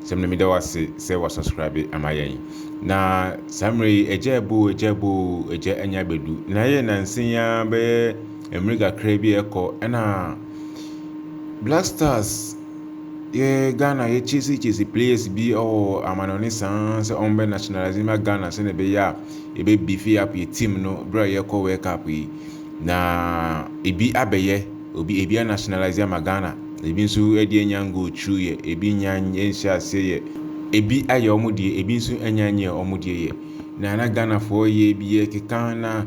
Sɛm na meda wo ase sɛ wa subscribe ama yɛn. Na saa mmerɛ yi agya ebo agya ebo agya anya abɛdu. Na yɛ nansen ya bɛyɛ mmere kakra bi ɛkɔ ɛna Black Stars yɛ Ghana yɛ chase chase players bi ɛwɔ amanɔne saa sɛ wɔn bɛ nationalize ma Ghana sɛ na ɛbɛyɛ a ɛbɛ beefy up yɛ team no berɛ a yɛkɔ World Cup yi. Na ebi abɛyɛ. Obi ebi a nationalise ama Ghana, ebi nso ɛde anya go through yɛ, ebi nnya nhyɛ aseɛ yɛ, ebi ayɛ wɔn deɛ, ebi nso anya nyɛ wɔn deɛ yɛ. Na na Ghanafoɔ yɛ bi yɛ keka na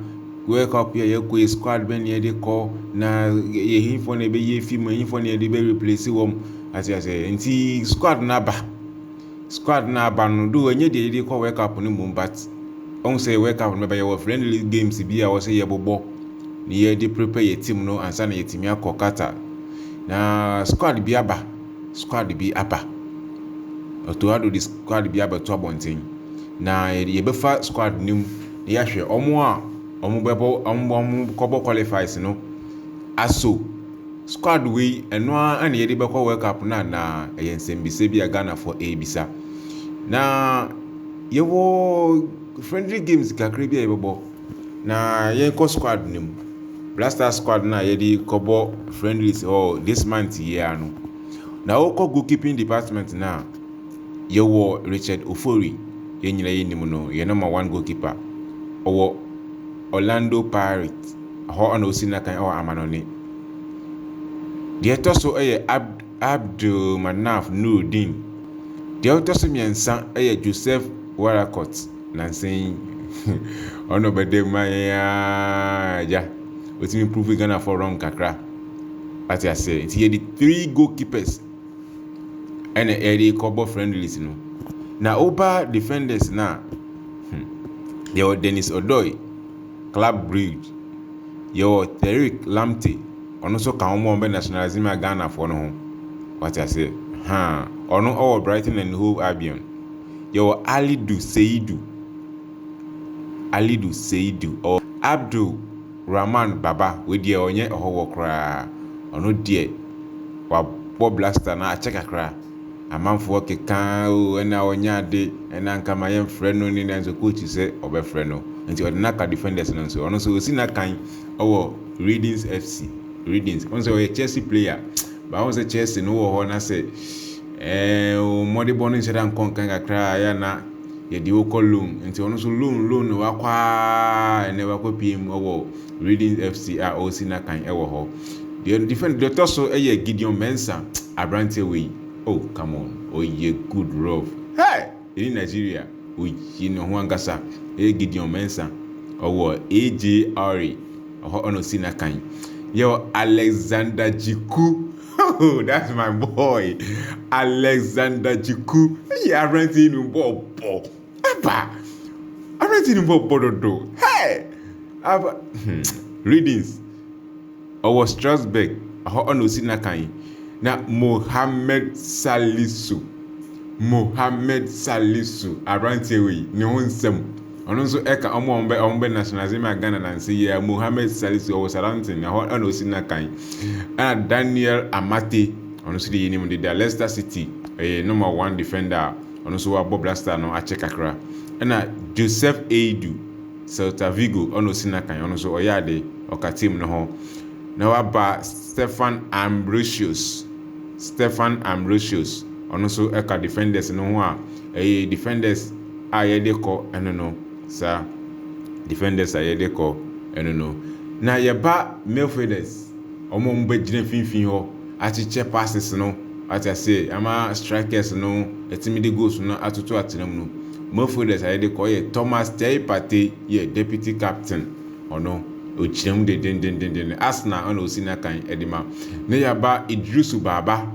World Cup yɛ yɛkɔ yɛ squad bɛn na yɛde kɔ na yɛ hinfoɔ na ɛbɛyɛ fi mu, hinfoɔ na yɛde bɛ replace wɔn, ate aseɛ nti squad no aba. Squad no aba no though ɛnyɛ deɛ yɛde kɔ World Cup no mmom but ɔhu sɛ World Cup no bɛba yɛwɔ friendly games bi a wɔsɛ yɛbobɔ na yɛde prepare yɛ team no ansa na yɛtumi akɔ Qatar na squad bi aba squad bi aba Otto Addo de squad bi abɛto abɔnten na yɛbɛfa squad no mu na yɛahwɛ wɔn a wɔbɛbɔ wɔn kɔbɔ qualifies no aso Squad wei ɛno ara na yɛde bɛkɔ World Cup no anaa? Ɛyɛ nsɛmbisa bi a Ghanafoɔ ɛrebisa. Na yɛwɔ friendly games kakra bi a yɛbɛbɔ na yɛnkɔ squad no mu. Blaster squad no a yɛde kɔbɔ friendlies hɔ this month yi ara no. Na wokɔ goalkeeping department no a, yɛwɔ Richard Ofori, yɛn nyinaa yɛnim no, yɛ number one goalkeeper. Ɔwɔ Orlando Pirates. Hɔ na ɔsii n'akan wɔ amannɔne. Deɛ ɛtɔ so yɛ Abd Abdulmanaf Nuruddin. Deɛ ɔtɔ so mmiɛnsa yɛ Joseph Warakot nansa yi. Ɔno na ɔbɛda mu ma yɛn ara agya. Ɔtumi prove Ghanafoɔ wrong kakra. Ate aseɛ nti yɛde three goalkeepers ɛna ɛde kɔbɔ friendlies no. Na woba defenders no a, hmm, yɛwɔ Dennis Odoi. Club Brugge. Yɛwɔ Tariq Lamptey, ɔno nso ka wɔn a wɔbɛ nationalise ma Ghanafoɔ no ho. Wate aseɛ? Haa. Ɔno ɔwɔ Brighton and Hove Albion. Yɛwɔ Alidu Seidu, Alidu Seidu, ɔwɔ Abdul Rahman Baba, wei deɛ ɔnyɛ ɔhɔhoɔ koraa. Ɔno deɛ wabɔ Black Star na akyɛ kakra. Amanfoɔ kekaa o ɛna ɔnyɛ ade ɛna nka ma yɛn frɛ no ne nanso coach sɛ ɔbɛfrɛ no nti ɔde no aka defenders no nso ɔno nso ɔsi n'akan ɔwɔ Readings FC Readings ɔno sɛ ɔyɛ Chelsea player baa ɔno sɛ Chelsea no wɔ hɔ na sɛ ɛɛ wɔn mmɔdebɔ no nhyɛ da nkɔ nkan kakra a ɛyɛ na yɛde wokɔ loan nti ɔno nso loan loan no wakɔ a ɛnɛ wakɔ pm ɔwɔ Readings FC a ɔsi n'akan ɛwɔ hɔ. Deɛ ɔde defend deɛ ɔtɔ so yɛ Gideon Mensah abranteɛ wei oh come on ɔyɛ good rough hey ɛni Nigeria ɔyi ne ho ankasa ɛyɛ Gideon Mensah ɔwɔ AJR ɔhɔ ɔna ɔsi n'akan yɛ Alexander Jiku oh that's my boy Alexander Jiku ɛyɛ abranteɛ yi no bɔɔl bɔ. Aba! Arɛti ni bɔ bɔdodo. Hey! Aba! Hmm. Readings. Ɔwɔ Strasbourg, ɛhɔ ɔna osi n'akan yi. Na Mohammed Salisu, Mohammed Salisu, aberanteɛ wei, ne ho nsɛm. Ɔno nso ɛka ɔmo a ɔmo bɛ ɔmo bɛ nationalize ma Ghana nansi yɛ Mohammed Salisu ɔwɔ Southampton, ɛhɔ ɔna osi n'akan yi. Ɛna Daniel Amartey, ɔno nso de yɛ nim deda Leicester City, ɛyɛ number one defender a Ɔno nso wabɔ Blackstar no akyɛ kakra. Ɛna Joseph Eidu, Celta Vigo, ɔna ɔsi no akan. Ɔno nso ɔyɛ ade, ɔka team no ho. Na waba Stefan Ambrosius, Stefan Ambrosius, ɔno nso ɛka Defenders no ho a, ɛyɛ Defenders a yɛde kɔ ɛno no, saa, Defenders a yɛde kɔ ɛno no. Na yɛba Midfielders, wɔn a wɔbɛgyina mfimfini hɔ, akyekyɛ passes no, wate aseɛ, ama strikers no atumi de goals no atoto atena mu no, Mofoders a yɛde kɔ yɛ Thomas Tei Partey yɛ deputy captain, ɔno ɔgyina mu dendendendendenn, Arsenal ɛna ɔsi n'akan de ma, na yɛaba Iddrisu Baba,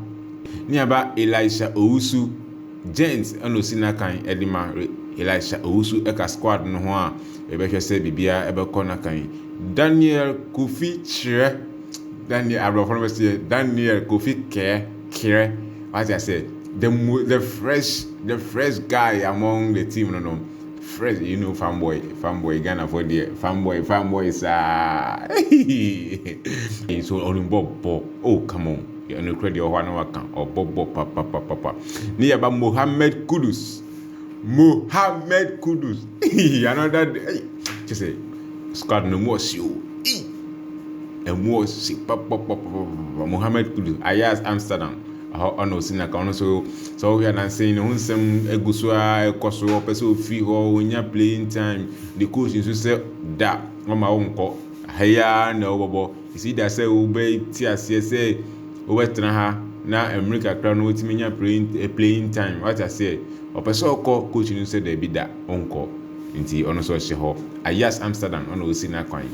na yɛaba Elisha Owusu, Gent ɛna ɔsi n'akan de ma, Elisha Owusu ka squad no ho a, yɛbɛhwɛ sɛ biribiara bɛkɔ n'akan, Daniel Kofi Kyerɛ. Daniel aborɔfo no bɛ sɛ Daniel Kofi Kɛɛ Kerɛ wate asɛ the mo the fresh the fresh guy among the team no no fresh you know fanboy fanboy Ghana for deɛ fanboy fanboy saa so ɔno bɔ bɔ oh come on ɛno kura deɛ ɔhɔ ano waka ɔbɔ bɔ papapapapa ne yaba Mohammed Kudus. Mohammed Kudus ii another day ei kyɛ sɛ squad no mu ɔhye o ii ɛmu ɔhye papapapapa Mohammed Kudus Ajax Amsterdam ɛhɔ ɔna ɔsi naka ɔno nso sɛ ɔhwɛ anansen ne ho nsɛm egu so a ɛkɔ so ɔpɛ sɛ ofi hɔ onya playing time ne coach nso sɛ da ɔma wo nkɔ ha yi ara na ɔbɔbɔ. Esi da sɛ wobɛte aseɛ sɛ wobɛtena ha na mmere kakra no wotumi nya playing time wate aseɛ. Ɔpɛ sɛ ɔkɔ, coach no sɛ daabi da ɔnkɔ nti ɔno nso ɔhyɛ hɔ. Ajax Amsterdam ɛna ɔsi n'akwan.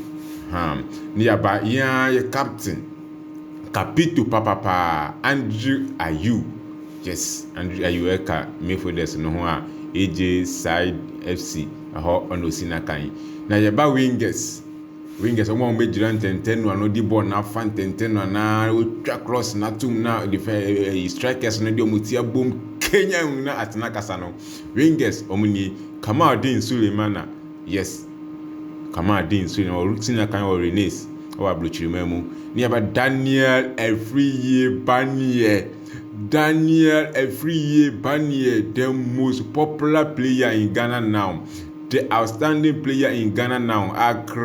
Ahaa. Ne yaba yɛn ara yɛ captain, capito papapaa, Andrew Ayew. Yes, Andrew Ayew ɛka midfielders no ho a, AJ Side FC ɛhɔ ɛna ɔsi n'akan. Na yɛba wingers. Rangers wɔn a wɔbɛgyina ntɛntɛn no ano di bɔɔl no afa ntɛntɛn no anaa wɔtwa cross no atom na defɛ strikers no de wɔn ti abom kenya mu na atena kasa no Rangers wɔn ni Kamaldeen Sulemana yes Kamaldeen Sulemana ɔresi na kan wɔ Rennes wɔ aburokyirima mu ne yaba Daniel Afriyie Baneɛ Daniel Afriyie Baneɛ the most popular player in Ghana now. The outstanding player in Ghana now Accra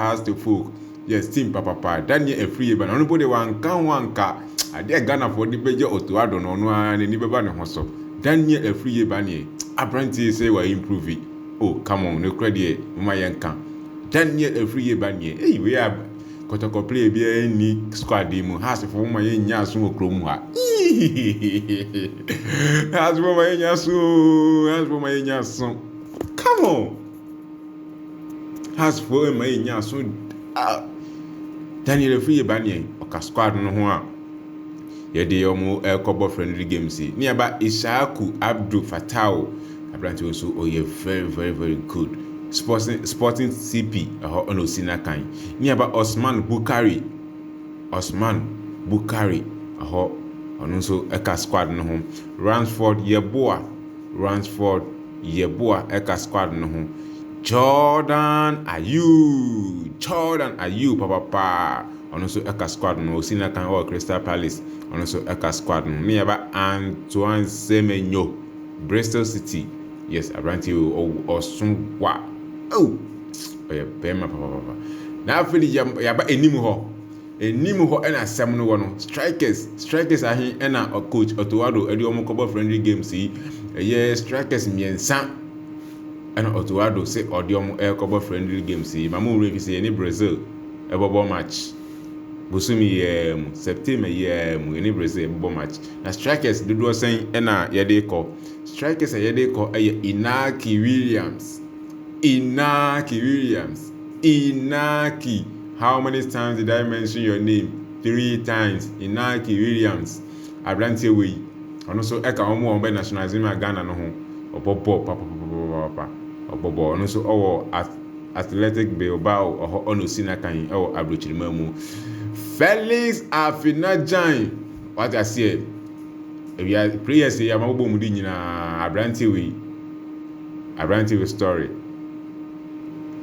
has to folk yɛ team papapa Daniel Afriyie ba no ɔno mpo de wanka ho anka adeɛ a Ghanafoɔ de bɛgye Otto Addo no ɔno ara n'ani bɛba ne ho so Daniel Afriyie ba neɛ aberanteɛ sɛ wa improve oh come on ne korɛ deɛ moma yɛnka Daniel Afriyie ba neɛ ei wei a Kɔtɔkɔ player biara nni squad yi mu. Hearts fo moma yɛn nya aso wɔ krom mu ha. Iihihihihi. Hearts fo ma yɛn nya aso. Hearts fo ma yɛn nya aso. Come on. Hearts fo ma yɛn nya aso. Ah. Daniel Afriyie ba neɛ ɔka squad no ho a. Yɛde wɔn rekɔbɔ friendly games yi. Ne yɛba Ishaku Abdu Fatao. Aberante nso ɔyɛ very very very good. Sporting Sporting CP ɛhɔ ɛna osi n'akan. Ne yɛba Osman Bukari. Osman Bukari ɛhɔ ɔno nso ɛka squad no ho. Ransford Yeboah. Ransford Yeboah ɛka squad no ho. Jordan Ayew. Jordan Ayew papapaa. Ɔno nso ɛka squad no osi na kan ɔwɔ Crystal Palace ɔno nso ɛka squad no ne yɛba Antoine Semenyo Bristol City yes abranteɛ wei ɔw ɔso wa oh ɔyɛ bɛrima papapapa na afei de yɛ yɛaba anim hɔ anim hɔ ɛna asɛm no wɔ no strikers strikers ahe ɛna coach Otoado ɛde wɔn kɔbɔ friendly games yi ɛyɛ strikers mmiɛnsa ɛna Otoado sɛ ɔde wɔn ɛkɔbɔ friendly games yi ma mo wura fi sɛ yɛ ne Brazil. Ɛbɔbɔ match bosome yi ara mu, September yi ara mu. Yɛni bere sɛ yɛbɛbɔ match. Na strikers dodoɔ sɛn na yɛde rekɔ? Strikers a yɛde rekɔ yɛ Inaki Williams, Inaki Williams, Inaki. How many times did I mention your name? Three times. Inaki Williams. Aberanteɛ wei, ɔno nso ɛka wɔn a wɔbɛ nationalism a Ghana no ho. Ɔbɔ bɔɔl papapapapapa. Ɔbɔ bɔɔl. Ɔno nso ɔwɔ at Athletic Bilbao ɔhɔ ɔno si n'akan wɔ aberekyirema mu. Felix Afena-Gyan, wate aseɛ, ewia players yi a wɔabobɔ mu di nyinaa, aberanteɛ wei, aberanteɛ wei story,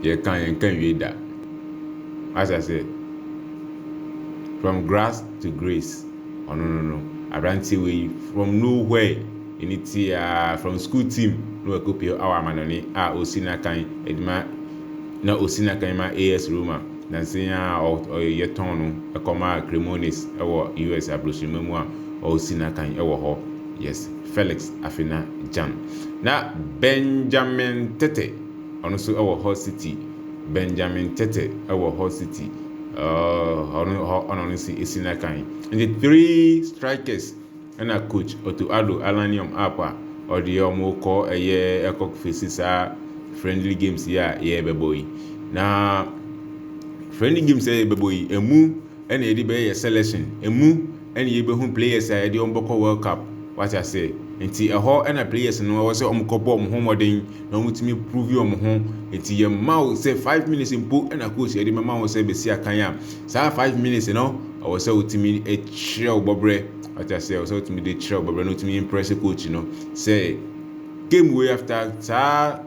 yɛka yɛnka wie da, wate aseɛ, from grass to grace, ɔno no no, aberanteɛ wei from nowhere. Emi tsee aa from school team no wɔ Kopio our amanɔne a osi n'akan de ma na osi n'akan ma AS Roma nansa yi aa ɔ yɛ tɔn no kɔ maa Cremones wɔ US abrohyirema mu a ɔ si n'akan wɔ hɔ yes Felix Afena Gyan na Benjamin Tete ɔno nso wɔ Hull City Benjamin Tete wɔ Hull City ɔɔ ɔno hɔ ɔna ɔno nso si n'akan nti three strikers. Ɛna coach Otto Addo Alanium app a ɔdeɛ ɔmo kɔ ɛyɛ ɛkɔ fesi saa friendly games yi a yɛbɛbɔ yi na friendly games a yɛbɛbɔ yi emu ɛna yɛde bɛyɛ yɛ selection emu ɛna yɛbɛhu players a yɛde ɔmo bɛkɔ world cup wate aseɛ nti ɛhɔ ɛna players no ɛwɔ sɛ ɔmo kɔ bɔ ɔmo ho mmɔden na ɔmo tumi prove ɔmo ho nti yɛ mma wo sɛ five minutes mpo ɛna coach yɛde mɛma wo sɛ bɛsi akan a saa five minutes no ɛwɔ sɛ wotumi ɛkyerɛ wo bɔbrɛ Wate aseɛ ɔsɛ wotumi de kyerɛ ɔbɛbrɛ na wotumi impress coach no sɛ game wei after saa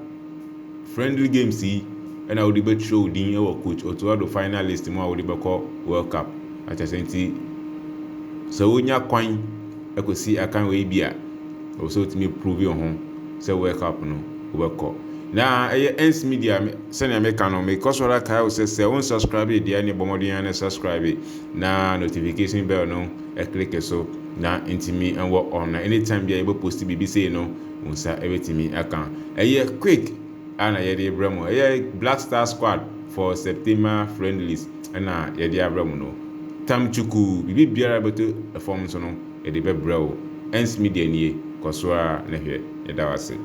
friendly games yi ɛna wode bɛtwerɛ wo din wɔ coach Otto Addo finalist mu a wode bɛkɔ World Cup wate aseɛ nti sɛ wonya kwan ɛkɔsi akan wei bi a ɛwɔ sɛ wotumi prove wo ho sɛ World Cup no wobɛkɔ na ɛyɛ Ernst Media sɛnea meka no mekɔ so ara kae wo sɛ sɛ wo nsubscribe deɛ ne bɔ mmɔden ara ne subscribe na notification bell no click so na ntumi wɔ on na anytime bia yɛbɛ post biribi sei no wo nsa ɛbɛtumi aka ɛyɛ quick a na yɛde brɛ mo ɛyɛ black star squad for september friendlies ɛna yɛde abrɛ mo no tam chuku biribi biara bɛto fam so no yɛde bɛbrɛ wo ɛns media nie kɔsoa na hwɛ yɛda wase.